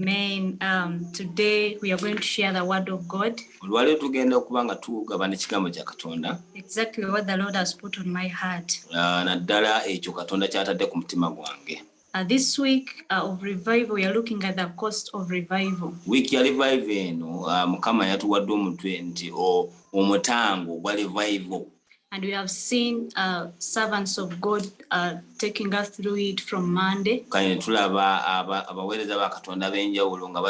Amen. Um, today we are going to share the word of God. Olwaleero tugenda okuba nga tugabana ekigambo kya Katonda. Exactly what the Lord has put on my heart. Ah, naddala ekyo Katonda ky'atadde ku mutima gwange. Uh, this week uh, of revival we are looking at the cost of revival. Week ya revival eno uh, Mukama yatuwadde omutwe nti omutango gwa revival. And we have seen uh, servants of God uh, taking us through it from Monday. Kanye tulaba aba abawereza ba Katonda benjawulo nga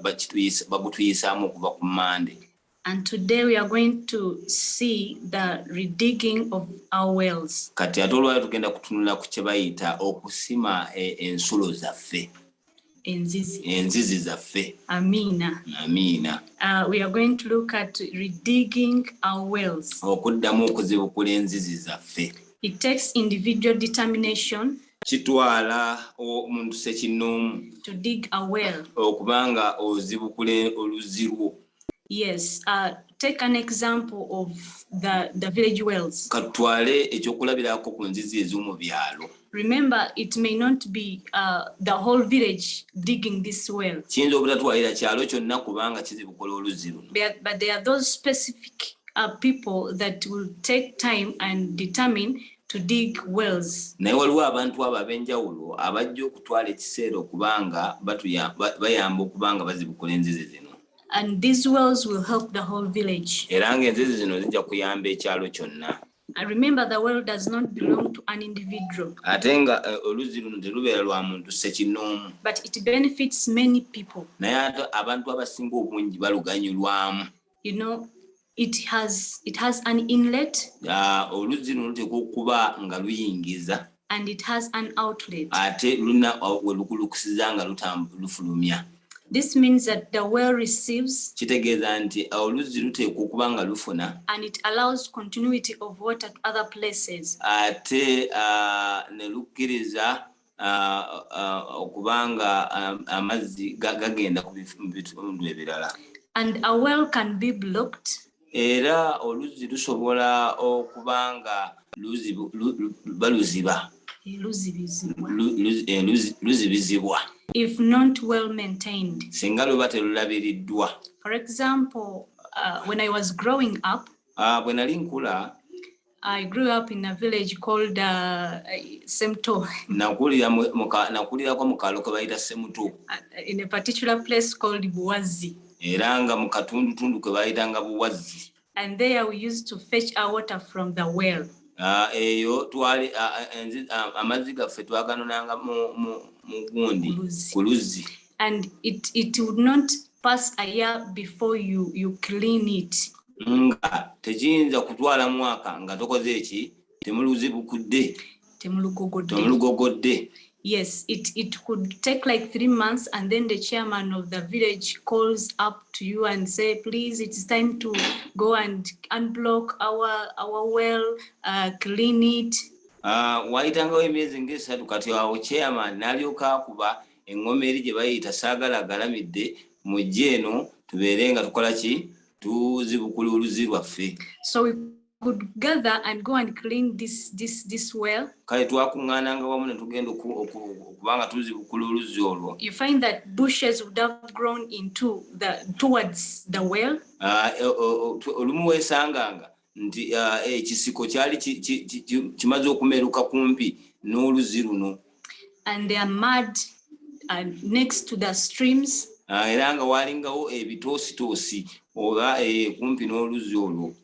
bakituyisa bagutuyisaamu okuva ku Monday. And today we are going to see the redigging of our wells. Kati ate olwali tugenda kutunula ku kye bayita okusima e, ensulo zaffe. enzizi enzizi zaffe amiina amiina uh, we are going to look at redigging our wells okuddamu okuzibukula enzizi zaffe it takes individual determination kitwala omuntu sekinnoomu to dig a well okubanga ozibukula oluzzi lwo Yes, uh, take an example of the, the village wells. Katwale ekyokulabirako ku nzizi ez'omu byalo. Remember, it may not be uh, the whole village digging this well. Kiyinza obutatwalira kyalo kyonna kubanga kizibukola oluzzi luno. But there are those specific uh, people that will take time and determine to dig wells. Naye waliwo abantu abo ab'enjawulo abajja okutwala ekiseera okuba nga bayamba okuba nga bazibukula enzizi zino. And these wells will help the whole village. Era nga enzizi zino zijja kuyamba ekyalo kyonna. I remember the well does not belong to an individual. Ate nga eh, oluzzi luno terubeera lwa muntu ssekinnoomu. But it benefits many people. Naye ate abantu abasinga obungi baluganyulwamu. you know it has it has an inlet ah, oluzzi luno luteekwa okuba nga luyingiza and it has an outlet ate luna ah, welukulukusiza nga lufulumya This means that the well receives kitegeeza nti ah, oluzzi luteekwa okuba nga lufuna and it allows continuity of water to other places ate uh, ne lukkiriza okuba nga amazzi gagenda mu bitundu ebirala and a well can be blocked era oluzzi lusobola okuba nga baluziba luzibizibwa if not well maintained singa luba telulabiriddwa for example uh, when i was growing up uh, bwe nali nkula I grew up in a village called uh, Semto. Nakulira muka nakulira kwa mukalo kwa bayita Semto. Uh, in a particular place called Buwazi. Eranga mukatundu tundu kwa bayita nga Buwazi. And there we used to fetch our water from the well. Ah uh, eyo twali ah, ah, amazi gaffe twaganonanga mu mu gundi kuluzi. And it it would not pass a year before you, you clean it nga tekiyinza kutwala mwaka nga tokoze eki temuluzibukudde temulugogodde yes it, it could take like three months and then the chairman of the village calls up to you and say please it's time to go and unblock our, our well uh, clean it uh, wayitangawo emyezi ngaesatu kati awo chairman nalyoka akuba Engoma eri gye bayita saagala agalamidde mujje eno tubeere nga tukola ki tuzibukula oluzi lwaffe. So we could gather and go and clean this, this, this well. Kale twakuŋŋaananga wamu ne tugenda okuba nga tuzibukula oluzzi olwo. You find that bushes would have grown into the, towards the well. Ah, e, olumu weesanganga nti ah, ekisiko eh, kyali kimaze okumeruka kumpi n'oluzzi luno ah, era nga walingawo ebitoositoosi oba eh, kumpi n'oluzzi olwo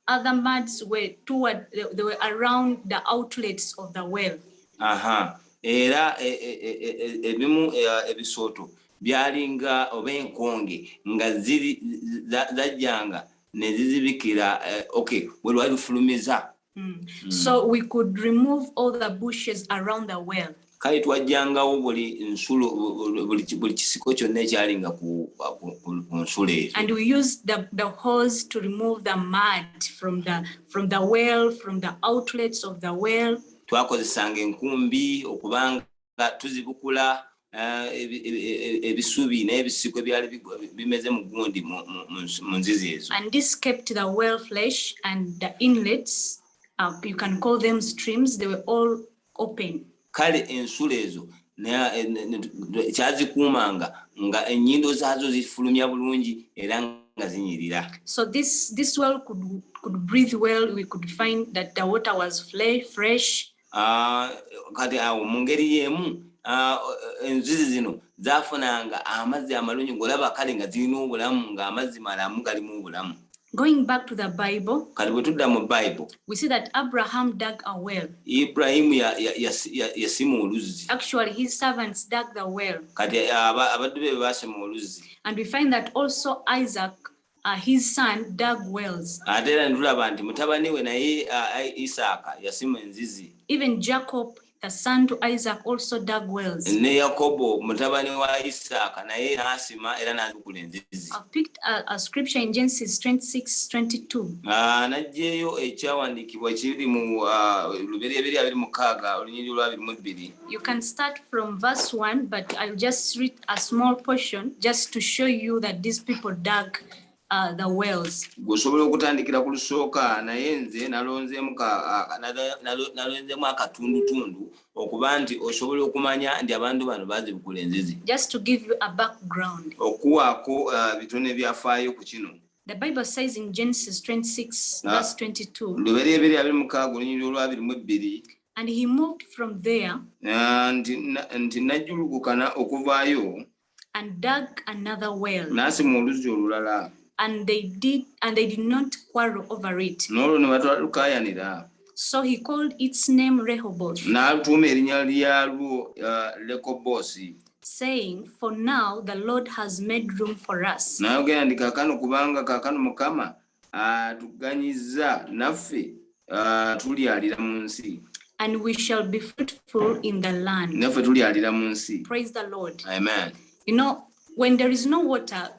other muds were toward they, they were around the outlets of the well aha era ebimu ebisooto byalinga oba enkonge nga ziri zajjanga nezizibikira eh, okay we lwali lufulumiza mm. mm. so we could remove all the bushes around the well kale twajjangawo buli nsulo buli kisiko kyonna ekyalinga ku nsulo eyo and we use the, the hose to remove the mud from the, from the well from the outlets of the well twakozesanga enkumbi okubanga tuzibukula eh, e, e, e, ebisubi n'ebisiko ebyali bimeze mu gundi mu nzizi ezo and this kept the well flesh and the inlets uh, you can call them streams they were all open kale ensulo ezo kyazikuumanga nga ennyindo zaazo zifulumya bulungi era nga zinyirira so this, this well could, could breathe well we could find that the water was fresh Ah, kati awo mu ngeri y'emu ah, enzizi zino zafunanga amazzi amalungi ng'olaba kale nga zirina obulamu ng'amazzi malamu galimu obulamu Going back to the Bible, kati bwe tudda mu bible we see that Abraham dug a well. iburahimu ya- ya- yasi- ya- yasima oluzzi Actually, his servants dug the well. kati aba- abaddu be baasima oluzzi And we find that also Isaac uh, his son dug wells. ate era ne tulaba nti mutabani we naye uh, I- isaaka yasima enzizi Even Jacob, the son to Isaac, also dug wells. ne yakobo mutabani wa isaaka naye n'asima era n'azikula enzizi I've picked a, a scripture in Genesis 26 22. Ah, n'aggyeyo ekyawandiikibwa kiri mu ah, lubereberye abiri mukaaga olunyiriri olwabiri mu bbiri You can start from verse 1, but I'll just read a small portion just to show you that these people dug uh, the wells. Gusobola okutandikira ku lusooka naye nze nalonzeemu nalonzeemu akatundutundu okuba nti osobola okumanya nti abantu bano bazibukula enzizi. Just to give you a background. Okuwaako uh, bitono ebyafaayo ku kino. The Bible says in Genesis 26 ah. verse 22. Lubereberye abiri mukaaga olunyiriri olwabiri mu ebbiri. And he moved from there. And nti najjulukukana okuvaayo. And dug another well. N'asima oluzzi olulala. And they did and they did not quarrel over it. N'olwo ne batwalukaayanira. So he called its name Rehoboth. N'atuuma erinnya lyalwo uh, Lekobosi. Saying, for now the Lord has made room for us. N'ayogera nti kaakano kubanga kaakano Mukama atuganyiza naffe tulyalira mu nsi and we shall be fruitful in the land naffe tulyalira mu nsi praise the lord amen you know when there is no water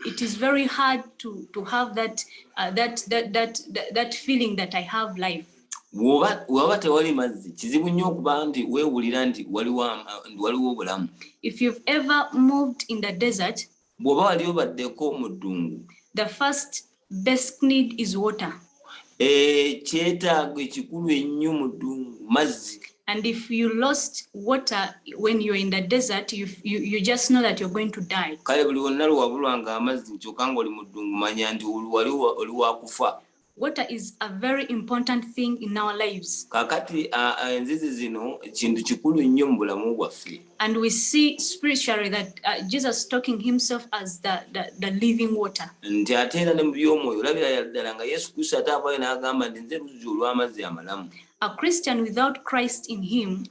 it is very hard to to have that uh, that, that that that that feeling that i have life waba tewali mazzi kizibu nnyo okuba nti weewulira nti waliwo obulamu if you've ever moved in the desert Bwoba wali obaddeko mu ddungu. The first basic need is water. Ekyetaago ekikulu ennyo mu ddungu mazzi. And if you lost water when you're in the desert, you, you, you just know that you're going to die. Kale buli wonna lwewabulwanga amazzi kyoka nga oli mu ddungu manya nti wali wakufa. Water is a very important thing in our lives. Kakati enzizi zino kintu kikulu nnyo mu bulamu bwaffe. And we see spiritually that uh, Jesus talking himself as the, the, the living water. Nti ate era ne mu by'omwoyo olabira yaddala nga Yesu Kristo ate avaayo n'agamba nti nze luzzi olw'amazzi amalamu. A Christian without Christ in him.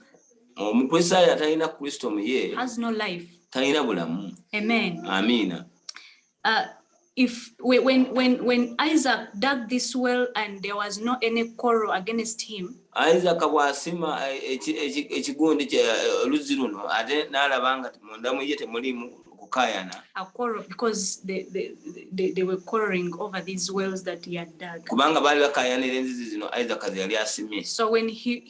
Omukristaayo atalina Kristo mu ye. Has no life. Talina bulamu. Amen. Amiina. Uh, if when when when Isaac dug this well and there was no any quarrel against him Isaac bwasima eh, ekigundi eh, oluzzi luno ate n'alaba nga munda mu ye temulimu kukayana kubanga baali bakayanira enzizi zino Isaac ze yali asimye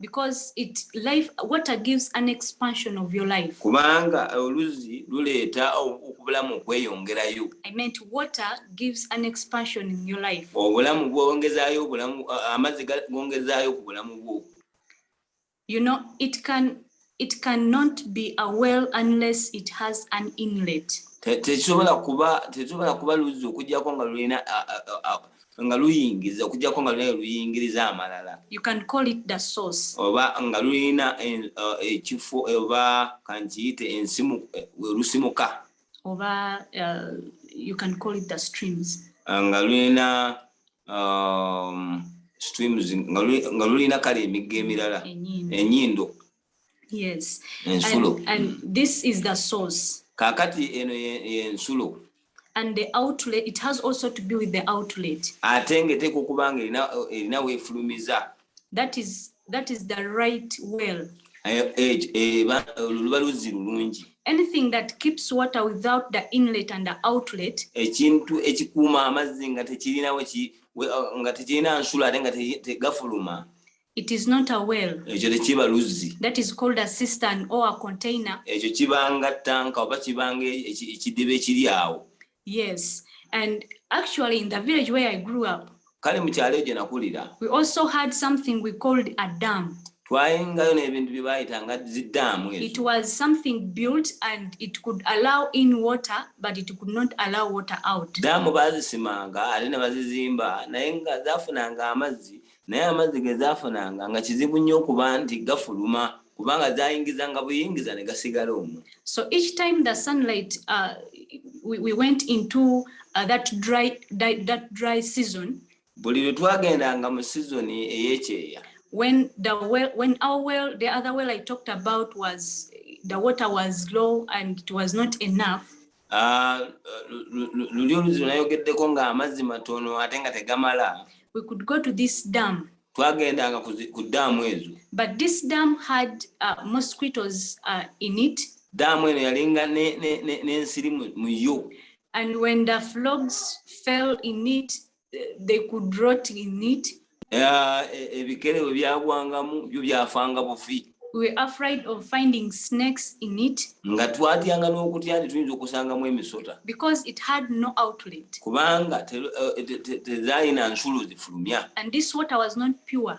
because it life water gives an expansion of your life kubanga oluzi luleeta okubulamu okweyongerayo i meant water gives an expansion in your life obulamu bwongezayo obulamu amazzi gongezayo ku bulamu bwo you know it can It can not be a well unless it has an inlet. Te- tekisobola kuba tekisobola kuba luzzi okujjako nga lulina a- a- a- a- nga luyingiza okujjako nga lulina luyingiriza amalala You can call it the source. oba nga lulina en- eh, ekifo oba kankiyite ensimu eh, werusumuka oba uh, you can call it the streams ah, nga lulina um, streams nga lulina kale emigga emirala enyindo yes ensulo and, and this is the source kakati eno yensulo ye and the outlet it has also to be with the outlet ate nga eteeka okuba nga erina weefulumiza that is that is the right well eh, eh, eh, luba luzzi lulungi anything that keeps water without the inlet and the outlet ekintu ekikuuma amazzi nga tekirina uh, nga tekirina nsula ate nga tegafuluma it is not a well ekyo tekiba luzzi that is called a cistern or a container ekyo kibanga tanka oba kibanga ekidiba ekiri awo Yes, and actually in the village where I grew up, kale mu kyalo egyo nakulira, we also had something we called a dam. Twayingayo n'ebintu bye bayita nga ziddaamu. It was something built and it could allow in water but it could not allow water out. Daamu baazisimanga ate ne bazizimba naye nga zaafunanga amazzi naye amazzi ge zaafunanga nga kizibu nnyo okuba nti gafuluma. kubanga zayingizanga buyingiza ne gasigala omwo so each time the sunlight uh, we, we went into uh, that dry, dry, that dry season buli lwe twagendanga mu sizoni ey'ekyeya when the well when our well the other well i talked about was the water was low and it was not enough Ah, luli oluziro nayogeddeko nga amazzi matono ate nga tegamala we could go to this dam twagendanga ku daamu ezo but this dam had uh, mosquitoes uh, in it daamu eno yalinga n'ensiri mu yo and when the flogs fell in it they could rot in it ah, e, ebikere we byagwangamu byo byafanga bufi we are afraid of finding snakes in it nga twatyanga n'okutya nti tuyinza okusangamu emisota because it had no outlet kubanga tezalina eh, nsulo zifulumya and this water was not pure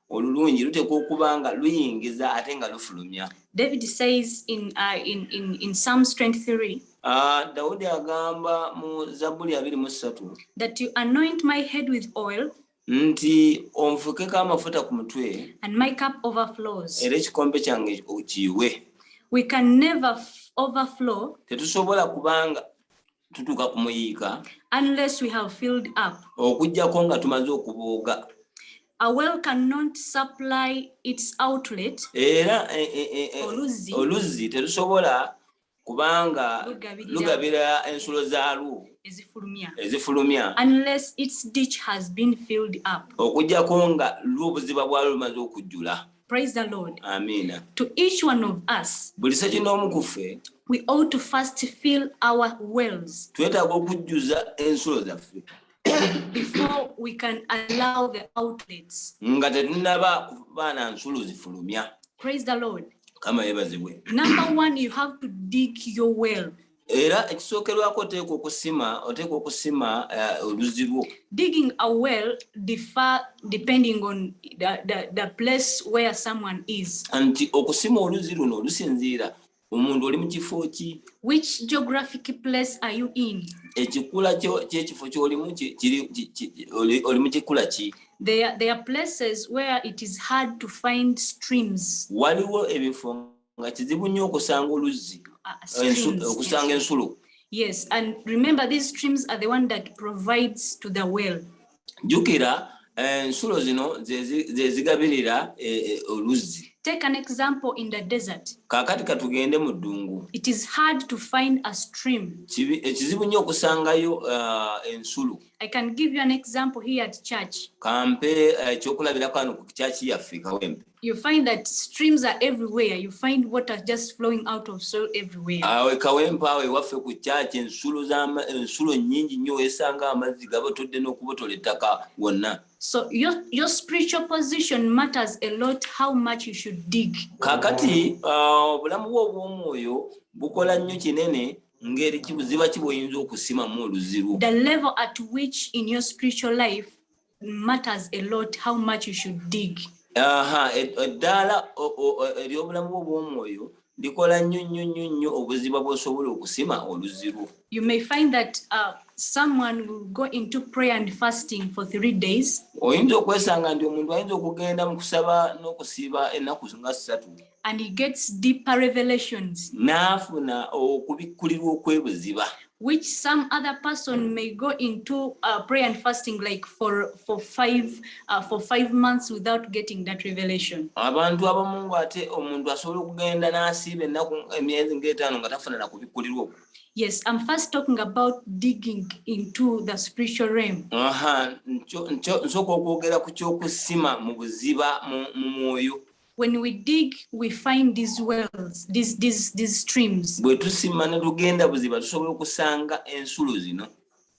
olulungi luteekwa okuba nga luyingiza ate nga lufulumya david says in, uh, in, in, in psalms 23 Uh, dawudi agamba mu zabbuli abiri mu ssatu that you anoint my head with oil nti onfukeko amafuta ku mutwe and my cup overflows era ekikombe kyange kiyiwe we can never overflow tetusobola kubanga tutuuka ku muyiika unless we have filled up okujjako nga tumaze okubooga a well cannot supply its outlet era eh, eh, eh, eh, Oluzzi. oluzzi terusobola kubanga Lugabirira. lugabira ensulo zaalwo ezifulumya ezifulumya unless its ditch has been filled up okujjako nga lwo obuziba bwalwo lumaze okujjula Praise the Lord. Amina. To each one of us. Buli seki n'omu ku ffe. We ought to first fill our wells. Twetaaga okujjuza ensulo zaffe. Before we can allow the outlets. Nga tetunnaba kuba na nsulo zifulumya. Praise the Lord. Kama yebazibwe. Number one, you have to dig your well. era ekisookerwako oteekwa okusima oteekwa okusima eh, oluzzi lwo digging a well differ depending on the, the, the place where someone is nti okusima oluzzi luno lusinziira omuntu oli mu kifo ki which geographic place are you in ekikula kyekifo kyolimu oli mu kikula ki There, there are places where it is hard to find streams. Waliwo ebifo nga kizibu nnyo okusanga oluzzi ah, okusanga ensulo yes and remember these streams are the one that provides to the well jukira eh, ensulo zino zezigabirira eh, eh, oluzzi take an example in the desert kakati katugende mu ddungu it is hard to find a stream ekizibu nnyo okusangayo ah, ensulo i can give you an example here at church kampe ekyokulabira kano ku kyaki yaffe kawempe you find that streams are everywhere you find water just flowing out of soil everywhere awe ah, kawempa awe wafe ku church ensulo za ensulo nyingi nyo esanga amazi gabo tudde no kubotola ettaka wonna so your your spiritual position matters a lot how much you should dig kakati ah, obulamu bwo bw'omwoyo bukola nnyo kinene ngeri kibuziba kiboyinza okusima mu oluzibu the level at which in your spiritual life matters a lot how much you should dig aha eddaala eryobulamu bwo bwomwoyo likola nnyo nnyo nnyo nnyo obuziba bwosobola okusima oluzzi lwo you may find that uh, someone will go into prayer and fasting for three days oyinza okwesanga nti omuntu ayinza okugenda mu kusaba n'okusiiba ennaku nga ssatu And he gets deeper revelations. N'afuna okubikkulirwa okwebuziba. Which some other person may go into uh, prayer and fasting like for for five uh, for five months without getting that revelation. Abantu abamu ng'ate omuntu asobola okugenda n'asiiba ennaku emyezi ng'etaano nga tafuna na kubikkulirwa okwo. Yes, I'm first talking about digging into the spiritual realm. Aha, nsoka okwogera ku ky'okusima mu buziba mu mwoyo. When we dig, we find these wells, these, these, these streams. Bwe tusima ne tugenda buziba tusobola okusanga ensulo zino.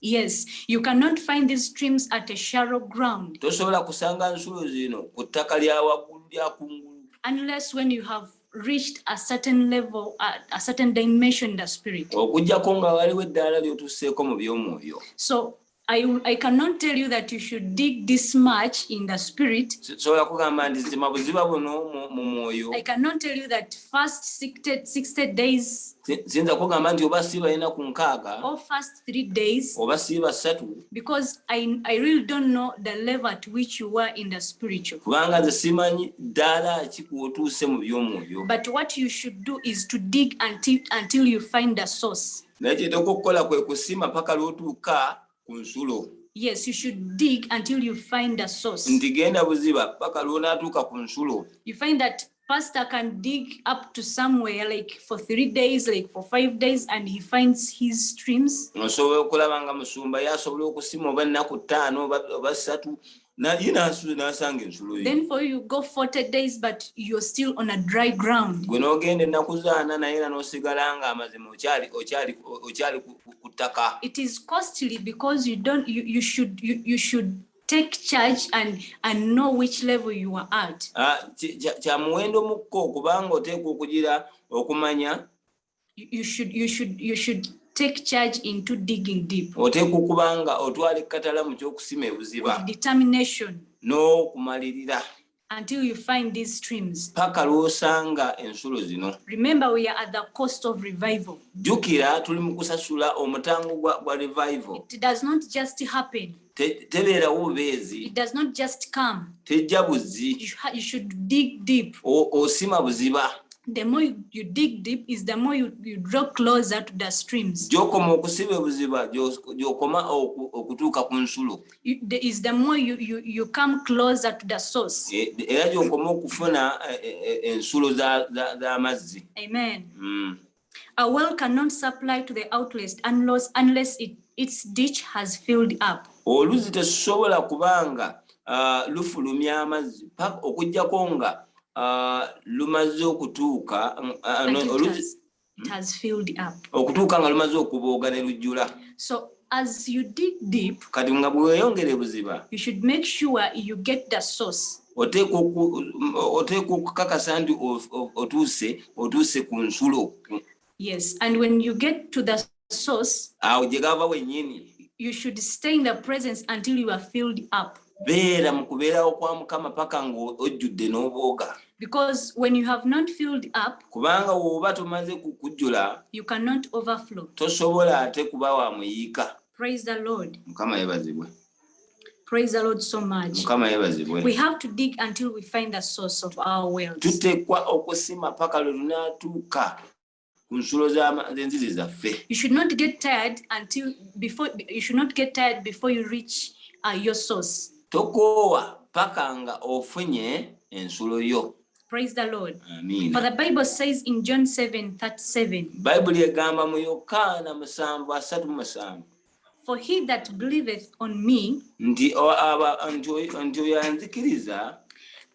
Yes, you cannot find these streams at a shallow ground. Tosobola kusanga nsulo zino ku ttaka lya waggulu lya kungulu. Unless when you have reached a certain level, a, a certain dimension in the spirit. Okujjako nga waliwo eddaala ly'otusseeko mu by'omwoyo. So I, I cannot tell you that you should dig this much in the spirit. I cannot tell you that first 60, 60 days sinza kugamba nti oba siiba yena ku nkaaga or first three days oba siiba ssatu because I, I really don't know the level at which you were in the spiritual kubanga nze simanyi ddaala ki kwotuuse mu by'omwoyo but what you should do is to dig until, until you find the source naye kyeteeka okukola kwe kusima paka lwotuuka ku nsulo yes you should dig until you find a source nti genda buziba paka lwonatuuka ku nsulo you find that pastor can dig up to somewhere like for three days like for five days and he finds his streams osobola okulaba nga musumba ye asobola okusima oba ennaku ttaano oba ssatu Now you know nasanga ensulo yo. Then for you go 40 days but you're still on a dry ground. Gwe nogenda ennaku zaana naye era nosigala nga amazima okyali okyali okyali ku ttaka. It is costly because you don't you, you should you, you should take charge and and know which level you are at. Ah kya muwendo mukko kubanga oteekwa okugira okumanya you should you should you should take charge into digging deep oteekwa okuba nga otwala ekkatala mu ky'okusima ebuziba determination n'okumalirira until you find these streams paka lw'osanga ensulo zino remember we are at the cost of revival jjukira tuli mu kusasula omutango gwa revival it does not just happen tebeerawo bubeezi tejja buzzi osima buziba the more you, you dig deep is the more you, you draw closer to the streams gyokoma okusiba ebuziba gyokoma okutuuka ku nsulo is the more you, you, you come closer to the source e, era gyokoma okufuna e, e, ensulo z'amazzi amen mm. A well cannot supply to the outlets unless, unless it, its ditch has filled up. Oluzi tesobola kubanga uh, lufulumya amazzi paka okujjako nga uh, lumaze okutuuka uh, no, oluzi hmm? has filled up. Okutuuka nga lumaze okubooga ne lujjula. So as you dig deep, kati nga bweyongere buziba, you should make sure you get the source. oteekwa okukakasa nti otuuse otuuse ku nsulo yes and when you get to the source awo gye gava wenyini you should stay in the presence until you are filled up beera mu kubeerawo kwa mukama paka ng'ojjudde n'obwoga because when you have not filled up kubanga woba tomaze kukujjula you cannot overflow tosobola ate kuba wa muyiika praise the lord mukama yebazibwe Praise the Lord so much. Mukama yebazibwe. We have to dig until we find the source of our wealth. Tutekwa okusima paka lwe tunatuuka ku nsulo z'enzizi zaffe. You should not get tired until before you should not get tired before you reach uh, your source. Tokoowa paka nga ofunye ensulo yo. Praise the Lord. Amen. For the Bible says in John 7:37. Bible yegamba mu Yokaana 7:37. For he that believeth on me, nti oyo anzikiriza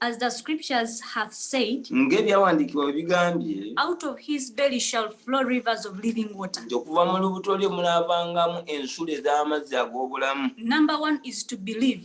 as the scriptures have said ng'ebyawandiikibwa bwe bigambye out of his belly shall flow rivers of living water nti okuva mu lubuto lye munaavangamu ensulo ez'amazzi ag'obulamu number one is to believe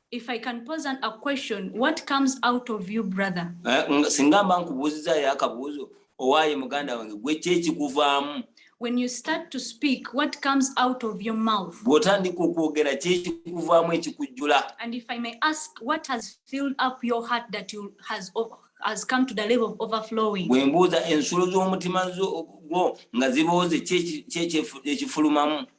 If I can pose an, a question, what comes out of you brother? Eh, singa mba nkubuuziza yo akabuuzo owaaye muganda wange gwe ki ekikuvaamu When you start to speak, what comes out of your mouth? bw'otandika okwogera ki ekikuvaamu ekikujjula And if I may ask, what has filled up your heart that you has o- has come to the level of overflowing? bwe mbuuza ensulo z'omutima zo- gwo nga zibooze ki eki- ki ekyefu- ekifulumamu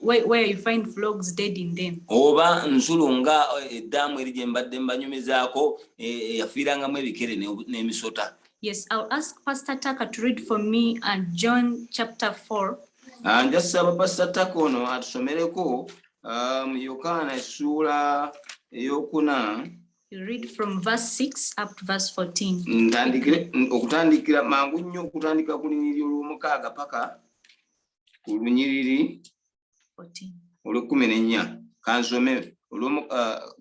Where, where you find vlogs dead in them. oba nzulu nga eh, eddaamu eri gye mbadde mbanyumizaako eh, eyafiirangamu ebikere ne- n'emisota Yes, I'll ask Pastor Tucker to read for me and John chapter 4. Ah, nja saba pasita taka ono atusomereko ah, mu yokaana essuula eyokuna You read from verse 6 up to verse 14. ntandikire okutandikira mangu nnyo okutandika ku lunyiriri olwomukaaga paka ku lunyiriri olw'ekkumi n'ennya kansome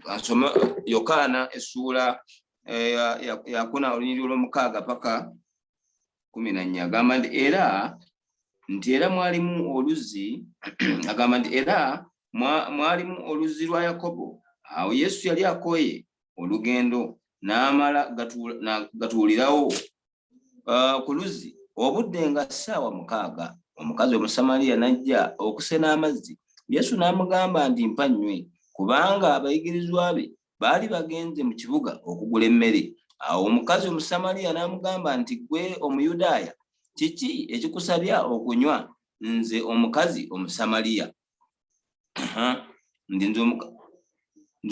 kansome yokaana essuula yakuna olunyiriri olw'omukaaga paka kumi na nnya agamba nti era nti era mwalimu oluzzi agamba nti era mwalimu oluzzi lwa yakobo awo yesu yali akooye olugendo n'amala gatuulirawo uh, ku luzzi obudde nga ssaawa mukaaga omukazi omusamaliya n'ajja okusena amazzi yesu n'amugamba nti mpa nnywe kubanga abayigirizwa be baali bagenze mu kibuga okugula emmere awo omukazi omusamaliya n'amugamba nti gwe omuyudaaya kiki ekikusabya okunywa nze omukazi omusamaliya ndi nze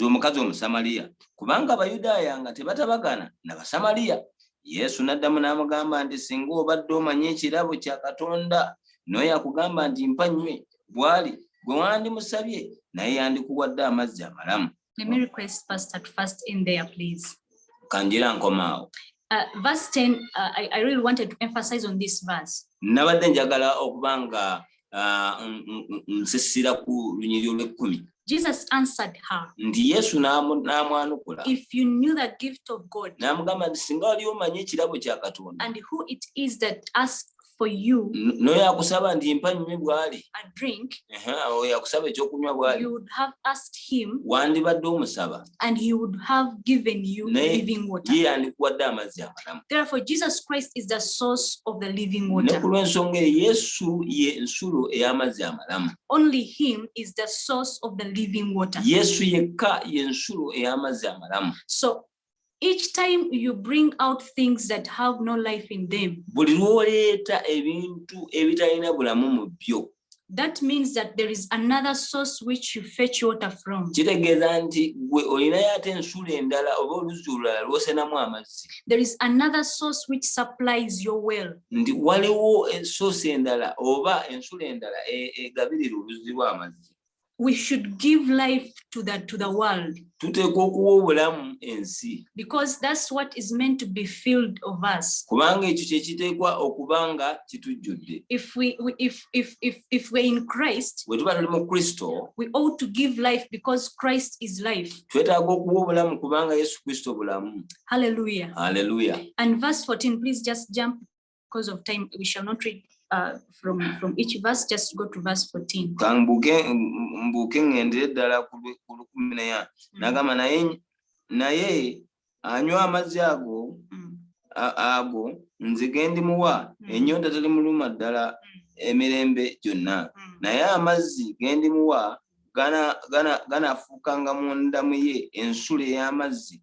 omukazi omusamaliya kubanga abayudaaya nga tebatabagana na basamaliya yesu n'addamu n'amugamba nti singa obadde omanyi ekirabo kya katonda noyo akugamba nti mpa nnywe bwali gwe wandimusabye naye yandikuwadde amazzi amalamu Let me request Pastor to first in there, please. Kanjira nkomaawo. Uh, verse 10, uh, I, I really wanted to emphasize on this verse. Nabadde njagala okuba nga uh, nsisira ku lunyiriri olw'ekkumi. Jesus answered her. Nti Yesu n'amwanukula. If you knew the gift of God. N'amugamba nti singa wali omanyi ekirabo kya Katonda. And who it is that asks for you noyo akusaba nti mpa nywe bwali a drink oyo akusaba ekyokunywa bwali you would have asked him wandibadde omusaba and he would have given you Naye, living water ye yandikuwadde amazzi amalamu therefore jesus christ is the source of the living water ne kulw'ensonga eyo yesu ye nsulo ey'amazzi amalamu only him is the source of the living water yesu yekka ye nsulo ey'amazzi amalamu so each time you bring out things that have no life in them buli lwoleeta ebintu ebitalina bulamu mu byo that means that there is another source which you fetch water from kitegeeza nti gwe olinayo ate ensulo endala oba oluzzi olulala lwosenamu amazzi there is another source which supplies your well nti waliwo source endala oba ensulo endala e, egabirira oluzzi lw'amazzi we should give life to the to the world tuteekwa okuwa obulamu ensi because that's what is meant to be filled of us kubanga ekyo kye kiteekwa okuba nga kitujjudde if we if if if if we're in christ bwe tuba tuli mu kristo we ought to give life because christ is life twetaaga okuwa obulamu kubanga yesu kristo bulamu hallelujah hallelujah and verse 14 please just jump because of time we shall not read uh, from from each verse just go to verse 14 kambuke mbuke ngendere dala ku 14 nagama naye naye anywa amazzi ago mm. ago nze gendi muwa mm. enyonta tali muluma dala mm. emirembe gyonna mm. naye amazzi gendi muwa gana gana gana fukanga munda muye ensule y'amazzi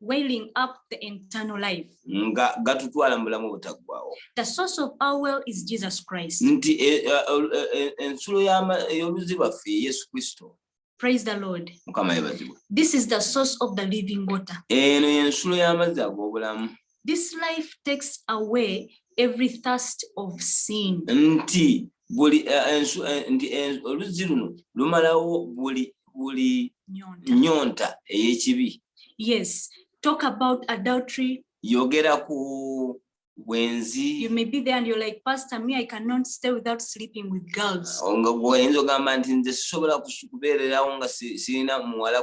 wailing up the internal life. nga gatutwala mu bulamu obutaggwawo The source of our well is Jesus Christ. nti e- e- e- e- ensulo y'ama- ey'oluzzi lwaffe ye yesu kristo Praise the Lord. mukama yebazibwe This is the source of the living water. eno y'ensulo y'amazzi ag'obulamu This life takes away every thirst of sin. nti buli eh, ensu eh, nti oluzzi luno lumalawo buli buli nyonta ey'ekibi yes talk about adultery yogera ku bwenzi you may be there and you're like pastor me i cannot stay without sleeping with girls nga gwoyinza ogamba nti nze sisobola kubeererawo nga sirina muwala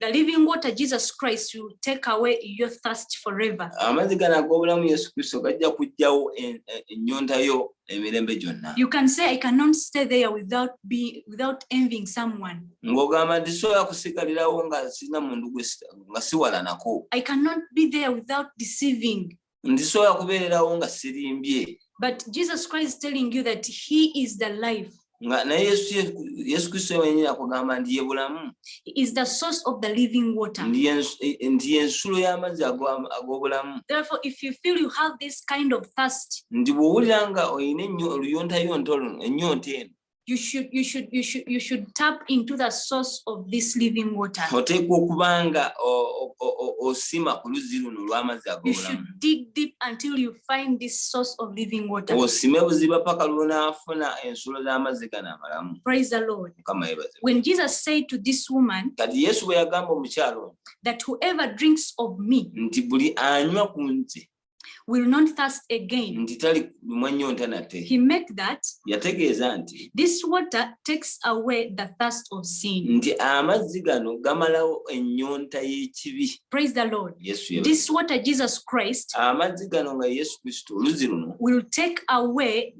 The living water, Jesus Christ, will take away your thirst forever. amazzi gano ag'obulamu yesu kristo gajja kuggyawo en- en- ennyonta yo emirembe gyonna You can say, I cannot stay there without be without envying someone. ng'ogamba nti sobola kusigalirawo nga sirina mundu gwe si- nga siwalanako I cannot be there without deceiving. ndisobola kubeererawo nga sirimbye but jesus christ is telling you that he is the life nga naye yesu kristo wenyini akugamba nti ye bulamu is the source of the living water nti yensulo y'amazzi ag'obulamu therefore if you feel you have this kind of thirst nti bw'owulira nga olina ennyo oluyontayonta oluno ennyonta eno you should you should you should you should tap into the source of this living water oteekwa okubanga osima ku luzzi luno olw'amazzi ag'obulamu dig deep until you find this source of living water osime buziba paka lw'onaafuna ensulo z'amazzi gano amalamu praise the lord mukama yebaze when jesus said to this woman kati yesu bwe yagamba omukyalo that whoever drinks of me nti buli anywa ku nze will not thirst again nti tali lumwa nnyo nta nate he meant that yategeeza nti this water takes away the thirst of sin nti amazzi gano gamalawo ennyonta y'ekibi praise the lord yesu yeba this water jesus christ amazzi gano nga yesu kristo oluzzi luno will take away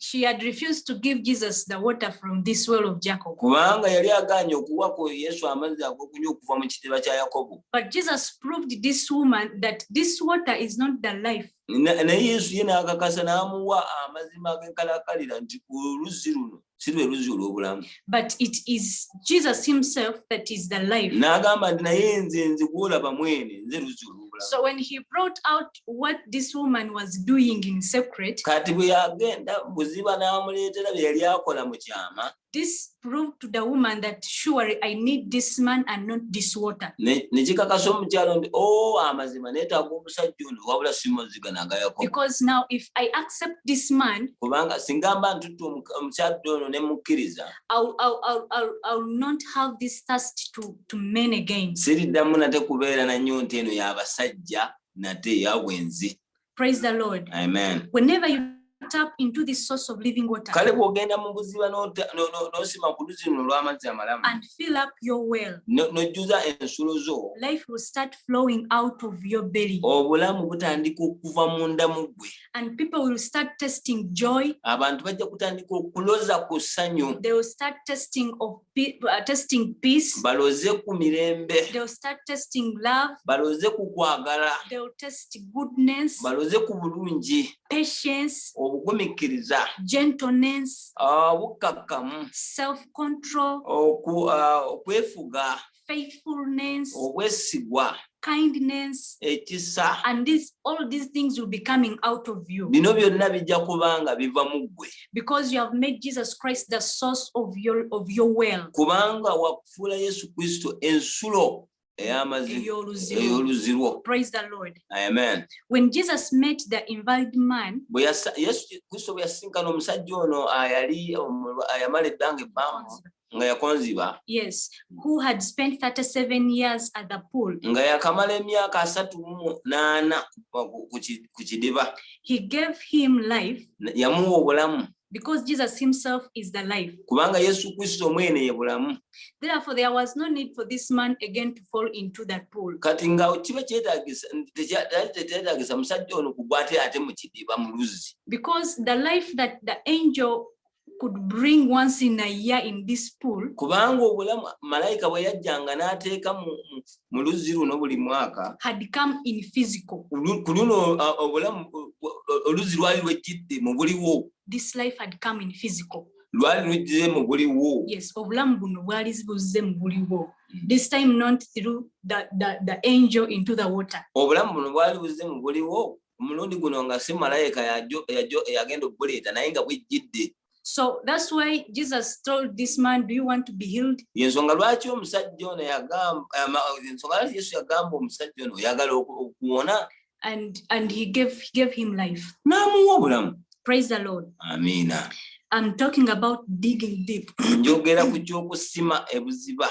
she had refused to give Jesus the water from this well of Jacob. Kubanga yali aganye okuwa ko Yesu amazzi agokunywa okuva mu kitiba kya Yakobo. But Jesus proved this woman that this water is not the life. Naye Yesu ye n'akakasa n'amuwa amazima ag'enkalakalira nti ku luzzi luno si lwe luzzi olw'obulamu. But it is Jesus himself that is the life. N'agamba nti naye nze nze gw'olaba mwene nze luzzi olw'obulamu. So when he brought out what this woman was doing in secret kati bwe yagenda buziba n'amuleetera bye yali akola mu kyama this proved to the woman that surely i need this man and not this water ne kikakasa omukyalo nti o oh, amazima neetaaga omusajja ono wabula simuziga nagayako because now if i accept this man kubanga singa mba ntuttu omukyadde ono ne mukkiriza ill not have this thirst to, to men again siriddamu nate kubeera nanyo nti eno y'abasajja nate yabwenzi praise the lord amen whenever you tap into this source of living water kale bwogenda mu buziba nosima ku luzi luno olw'amazzi amalamu and fill up your well nojjuza ensulo zo life will start flowing out of your belly obulamu butandika okuva munda mu ggwe and people will start testing joy abantu bajja kutandika okuloza ku ssanyu they will start testing of pe- uh, testing peace. baloze ku mirembe They'll start testing love. baloze ku kwagala They'll test goodness, baloze ku bulungi patience, obugumikkiriza gentleness, ah, obukkakkamu self control, oku- ah, okwefuga faithfulness, obwesigwa kindness, ekisa and this all these things will be coming out of you bino byonna bijja kuba nga biva mu ggwe because you have made Jesus Christ the source of your of your well. kubanga wakufuula yesu kristo ensulo ey'amazima Ey'oluzirwo. ey'oluzirwo Praise the Lord. amen When Jesus met the invalid man, bwe yasa- yesu kristo bwe yasisinkana omusajja ono ayali omulwa- ayamala ebbanga ebbanga nga yakonziba yes who had spent 37 years at the pool nga yakamala emyaka asatu mu naana ku kidiba he gave him life yamuwa obulamu because jesus himself is the life kubanga yesu kristo mwene ye bulamu therefore there was no need for this man again to fall into that pool kati nga kiba kyetagisa tetagisa musajja ono kugwa ate ate mu kidiba mu luzzi because the life that the angel could bring once in a year in this pool kubanga obulamu malayika bwe yajjanga n'ateeka mu luzzi luno buli mwaka had come in physical ku luno obulamu oluzzi lwali lwejjidde mu buliwo this life had come in physical lwali lujjize mu buliwo yes obulamu buno bwali buzze mu buliwo this time not through the, the, the angel into the water obulamu buno bwali buzze mu buliwo omulundi guno nga si malayika yagenda okubuleeta naye nga bwejjidde so thats why jesus told this man do you want to be healed yensonga lwaki omusajja ono yagambensonga lwaki yesu yagamba omusajja ono oyagala okuwona and and he gave, he gave him life n'amuwa obulamu praise the lord amiina i'm talking about digging deep njogera ku ky'okusima ebuziba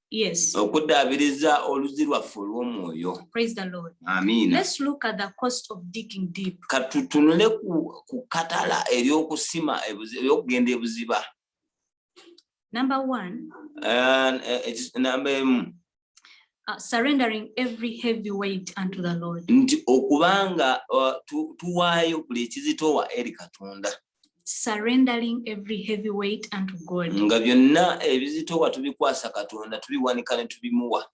Yes. Okuddaabiriza oluzzi lwaffe olw'omwoyo. Praise the Lord. Amiina. Let's look at the cost of digging deep. Ka tutunule ku, ku katala ery'okusima ery'okugenda ebuziba. Number one. Uh, it's number emu. Uh, surrendering every heavy weight unto the Lord. Nti okubanga uh, tuwaayo buli ekizitowa eri Katonda. surrendering every heavy weight unto God. nga byonna ebizitowa tubikwasa katonda tubiwanika ne tubimuwa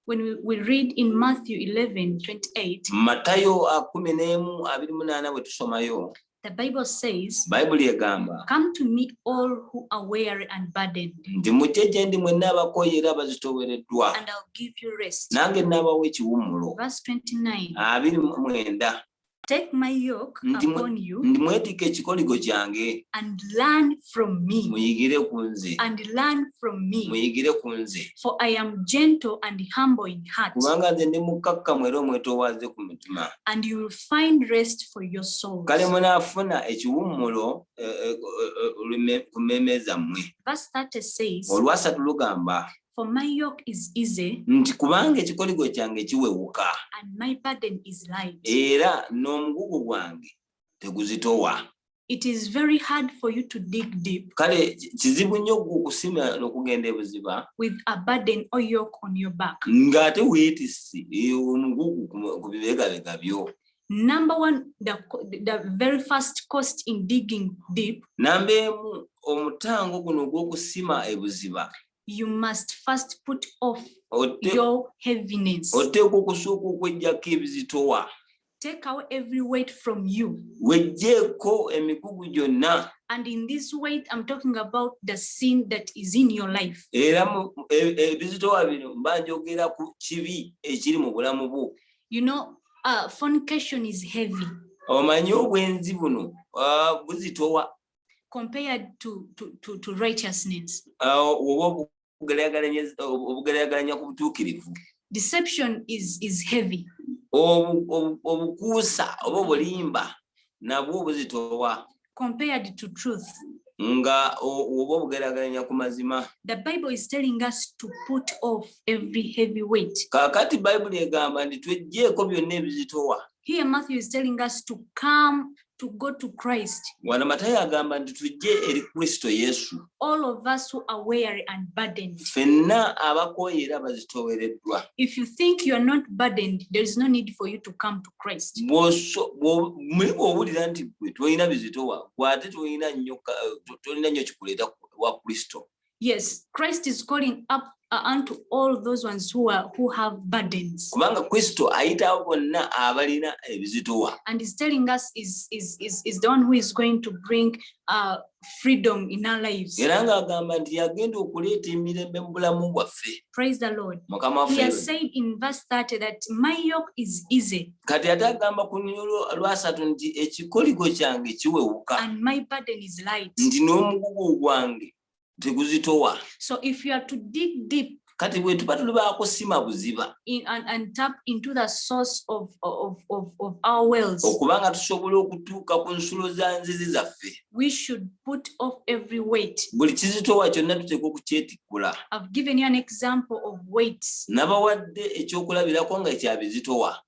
When we, we read in Matthew 11 28, matayo akumi n'emu abiri munaana bwe tusomayo the Bible says, bayibuli egamba Come to me, all who are weary and burdened, nti mujje gye ndi mwenna abakooye era abazitoowereddwa and I'll give you rest. nange naabawa ekiwummulo Verse 29 abiri mu mwenda Take my yoke Ndi mwe- upon you ndi mwetika ekikoligo kyange and learn from me. muyigire ku nze And learn from me. muyigire ku nze For I am gentle and humble in heart, kubanga nze ndi mukkakkamu era omwetoowaze ku mutima and you will find rest for your souls. kale munaafuna ekiwummulo eh, eh, eh, eh, olume- ku mmeeme zammwe Verse 30 says, olwasatu lugamba For my yoke is easy. Nti kubanga ekikoligo kyange kiwewuka. And my burden is light. Era n'omugugu gwange teguzitowa. It is very hard for you to dig deep. Kale kizibu nnyo okusima n'okugenda ebuziba. With a burden or yoke on your back. Ng'ate weetisse eh, omugugu ku bibegabega byo. Number one, the, the very first cost in digging deep. Namba emu omutango guno ogw'okusima ebuziba. you must first put off Ote, your heaviness oteekwa okusooka okwejjako ebizitowa take away every weight from you wejjeeko emigugu gyonna and in this weight i'm talking about the sin that is in your life era e, ebizitowa bino mba njogera ku kibi ekiri mu bulamu bwo you know uh, fornication is heavy omanyi obwenzi buno uh, buzitowa compared to, to, to, to righteousness. Oh, Deception is, is heavy. obukuusa oba obulimba nabwo buzitowa compared to truth nga oba obugerageranya ku mazima the bible is telling us to put off every heavy weight kakati bayibuli egamba nti twejjeeko byonna ebizitowa here matthew is telling us to come to go to Christ. Wano Matayo agamba nti tujje eri Kristo Yesu. All of us who are weary and burdened. Fenna abakooye era bazitoowereddwa. If you think you are not burdened, there is no need for you to come to Christ. Bw'owulira nti gwe tolina bizitowa, gwe ate tolina nnyo tolina nnyo kikuleeta wa Kristo. Yes, Christ is calling up uh, unto all those ones who are who have burdens. Kubanga Kristo ayitawo bonna abalina ebizitowa. And is telling us is is is is the one who is going to bring uh freedom in our lives. Era ng'agamba nti yagenda okuleeta emirembe mu bulamu bwaffe. Praise the Lord. Mukama waffe. He has said in verse 30 that my yoke is easy. Kati ate agamba ku lunyiriri lwasatu nti ekikoligo kyange kiwewuka. And my burden is light. Nti n'omugugu gwange teguzitowa so if you are to dig deep kati bwetuba tuli bakusima buziba okubanga tusobola okutuuka ku nsulo za nzizi zaffe buli kizitowa kyonna tuteeka okukyetikkula nabawadde ekyokulabirako nga ekyabizitowa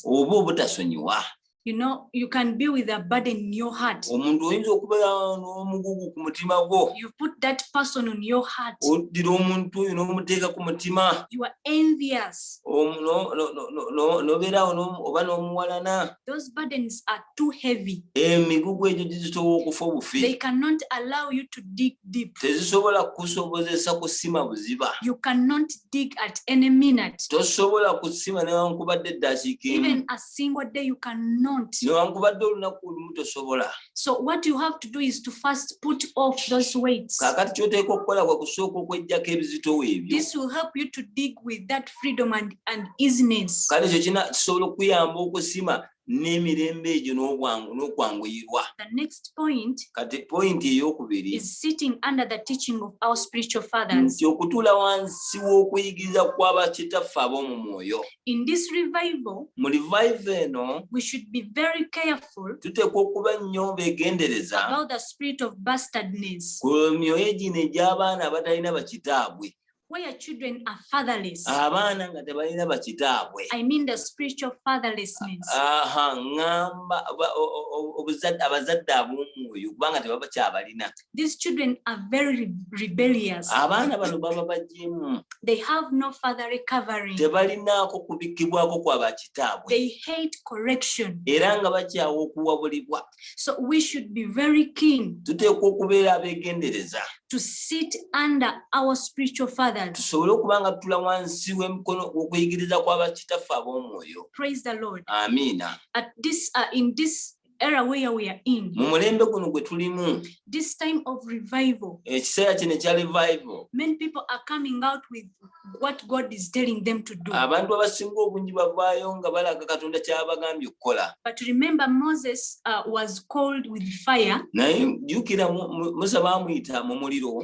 oba obutasonyiwa You know, you can be with a burden in your heart. omuntu oyinza okubeera n'omugugu ku mutima gwo You put that person on your heart. oddira omuntu oyo n'omuteeka ku mutima You are envious. omu- no- no- no- no- no- n'obeeraawo n'omu- oba n'omuwalana Those burdens are too heavy. emigugu egyo gizitowa okufa obufi They cannot allow you to dig deep. tezisobola kusobozesa kusima buziba You cannot dig at any minute. tosobola kusima newankubadde eddakiika emu Even a single day you cannot newankubadde olunaku olumu tosobola so what you have to do is to first put off those weights kakati kyoteeka okukola kwa kusooka okwejjako ebizitowo ebyo this will help you to dig with that freedom and, and easiness kale ekyo kina kisobola okuyamba okusima n'emirembe egyo n'obwangu n'okwanguyirwa the next point kati point ey'okubiri is sitting under the teaching of our spiritual fathers nti okutuula wansi w'okuyigiriza kw'abakitaffe ab'omu mwoyo In this revival, mu revive eno we should be very careful tuteekwa okuba nnyo beegendereza about the spirit of bastardness, ku myoyo gino egy'abaana abatalina bakitaabwe where children are fatherless. abaana nga tebalina bakitaabwe I mean the spiritual fatherlessness. aha ŋŋamba ba- o- o- o- obuzadde- abazadde ab'omwoyo kubanga tebaba kyabalina These children are very rebellious. Abaana bano baba bajimu. They have no further recovery. Tebalinaako kubikibwako kwa bakitaabwe. They hate correction. Era nga bakyawa okuwabulibwa. So we should be very keen. Tuteekwa okubeera abegendereza. To sit under our spiritual fathers. Tusobole okuba nga tula wansi w'emikono okuyigiriza kwa bakitaffe ab'omwoyo. Praise the Lord. Amina. At this, uh, in this era where we are in mu mulembe guno gwe tulimu this time of revival ekiseera kino ekya revival many people are coming out with what god is telling them to do abantu abasinga obungi bavaayo nga balaga katonda kyabagambye okukola but remember moses uh, was called with fire naye jukira musa bamuyita mu muliro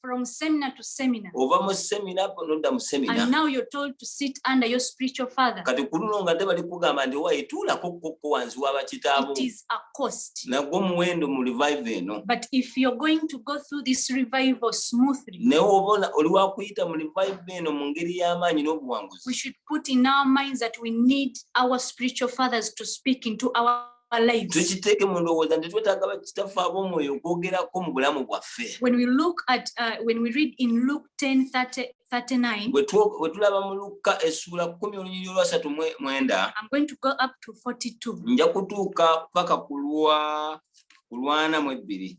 from seminar to seminar ova mu seminar nodda mu seminar and now you're told to sit under your spiritual father kati kuluno nga te bali kugamba nti wayi tuulako kukko wansi wa bakitaabo it is a cost nagwo muwendo mu revive eno but if you're going to go through this revival smoothly naye obona oli wakuyita mu revive eno mu ngeri y'amaanyi n'obuwanguzi we should put in our minds that we need our spiritual fathers to speak into our tukiteeke mu ndowooza nti twetaaga bakitaffe ab'omwoyo okwogerako mu bulamu bwaffe bwe tulaba mu lukka essuula kumi olunyiri olwasatu mwenda nja kutuuka paka ku lwa kulwana mu ebbiri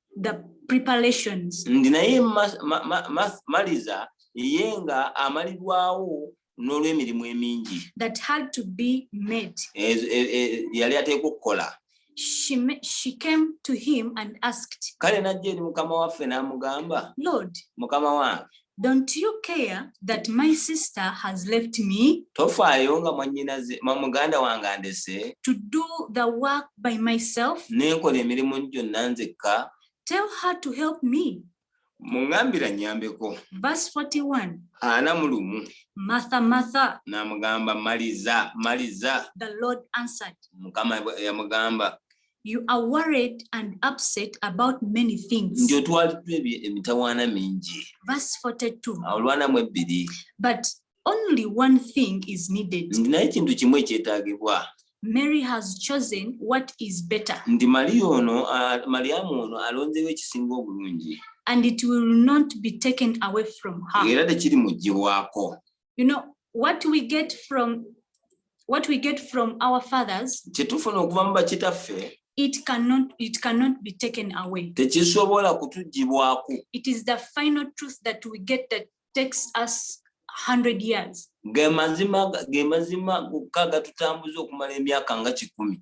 the preparations ndi naye maliza ye nga amalirwawo n'olw'emirimu emingi that had to be made e, e, e, yali ateekwa okukola She, she came to him and asked kale najja eri mukama waffe n'amugamba lord mukama wange Don't you care that my sister has left me? Tofaayo nga mwannyinaze ma muganda wange andese. To do the work by myself. Ne nkola emirimu gyonna nzekka. Tell her to help me. Mungambira nnyambeko. Verse 41. Ana mu lumu. Martha, Martha. N'amugamba maliza, maliza. The Lord answered. Mukama yamugamba. You are worried and upset about many things. Ndio twaliddwa emitawaana mingi. Verse 42. Olwana mu ebbiri. But only one thing is needed. Ndi naye kintu kimu ekyetaagibwa. Mary has chosen what is better. Ndi Maria ono, uh, Mariamu ono alonzeewo ekisinga obulungi. And it will not be taken away from her. Era tekiri muggyibwako. you know what we get from what we get from our fathers kyetufuna okuva mu bakitaffe it cannot it cannot be taken away tekisobola kutugibwako it is the final truth that we get that takes us 100 years ge mazima ge mazima gokka gatutambuza okumala emyaka nga kikumi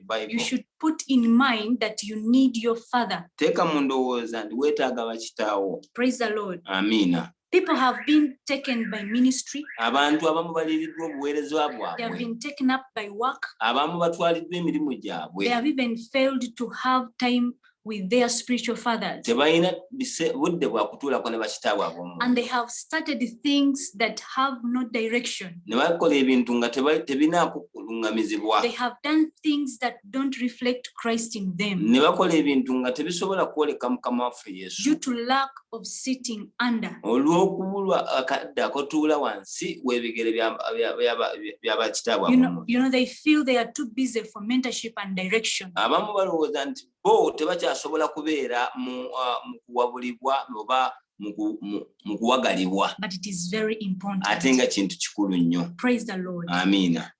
you should put in mind that you need your father teeka mu ndowooza nti weetaaga bakitaawo praise the lord amiina People have been taken by ministry. Abantu abamu baliridwa obuweereza bwabwe. They have been taken up by work. Abamu batwaliddwa emirimu gyabwe. They have even failed to have time with their spiritual fathers. tebalina bise- budde bwa kutuulako ne bakitaabwe ab'omu And they have started things that have no direction. ne bakola ebintu nga teba- tebinaako kuluŋŋamizibwa They have done things that don't reflect Christ in them ne bakola ebintu nga tebisobola kwoleka mukama waffe yesu due to lack of sitting under olw'okubulwa akadde akotuula wansi w'ebigere bya bakitaabwe you know, you know they feel they are too busy for mentorship and direction abamu balowooza nti bo tebakyasobola kubeera mu uh, kuwabulibwa oba mu kuwagalibwa ate nga kintu kikulu nnyo amiina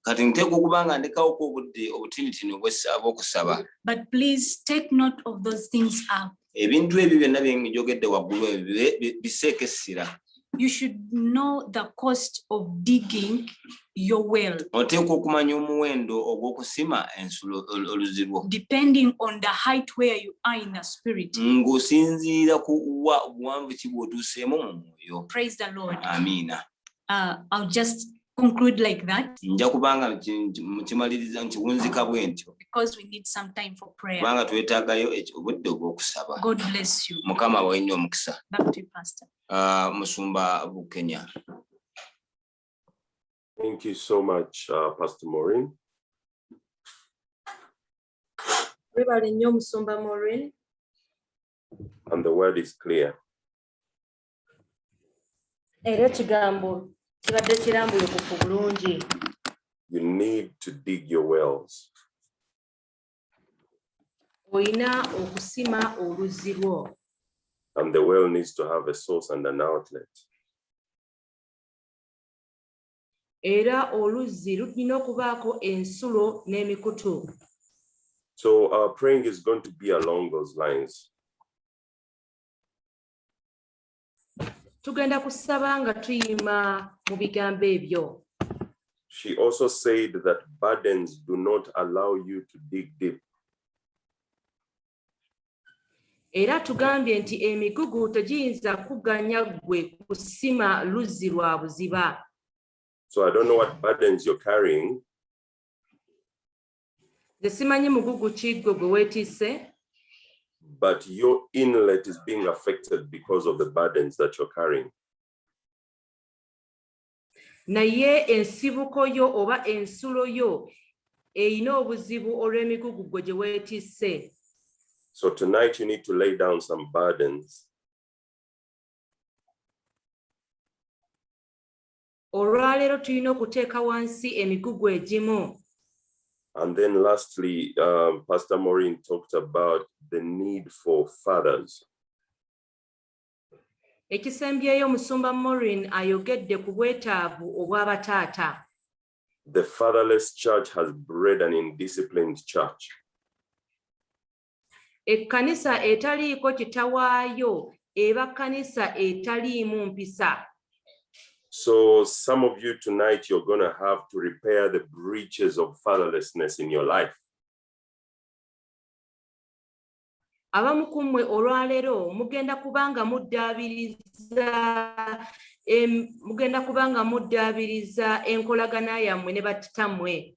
kati nteeka okuba nga ndekawoku obudde obutinitini obwokusaba But please take note of those things up. ebintu ebyo byonna bye njogedde waggulu ebyo bibe- bi- biseeko essira You should know the cost of digging your well, oteekwa okumanya omuwendo ogw'okusima ensulo ol- oluzzi lwo depending on the height where you are in the spirit. Mm. ng'osinziira ku wa buwanvu ki bw'otuuseemu mu mwoyo Praise the Lord. amiina Uh, I'll just conclude like that nja kubanga mukimaliriza nkiwunzika bwe ntyo kubanga twetaagayo obudde obw'okusaba mukama wawe nnyo omukisa ah, musumba bukenya Thank you so much, uh, Pastor Maureen. And the word is clear. era ekigambo kibadde kirambulukufu bulungi you need to dig your wells olina okusima oluzzi lwo and the well needs to have a source and an outlet era oluzzi lulina okubaako ensulo n'emikutu so our praying is going to be along those lines tugenda kusaba nga tuyima mu bigambo ebyo She also said that burdens do not allow you to dig deep. era tugambye nti emigugu tegiyinza kuganya ggwe kusima luzzi lwa buziba So I don't know what burdens you're carrying, nze simanyi mugugu ki gwe gwe weetiise but your inlet is being affected because of the burdens that you're carrying naye ensibuko yo oba ensulo yo erina obuzibu olw'emigugu gwe gye weetiise so tonight you need to lay down some burdens olwaleero tulina okuteeka wansi emigugu egimu And then lastly, um, Pastor Maureen talked about the need for fathers. Ekisembyeyo Musumba Maureen ayogedde ku bwetaavu obw'abataata. The fatherless church has bred an indisciplined church. ekkanisa etaliiko kitawaayo eba kkanisa etaliimu mpisa so some of you tonight you're gonna have to repair the breaches of fatherlessness in your life abamu ku mmwe olwaleero mugenda kubanga muddaabiriza mugenda kubanga muddaabiriza enkolagana yammwe ne battitammwe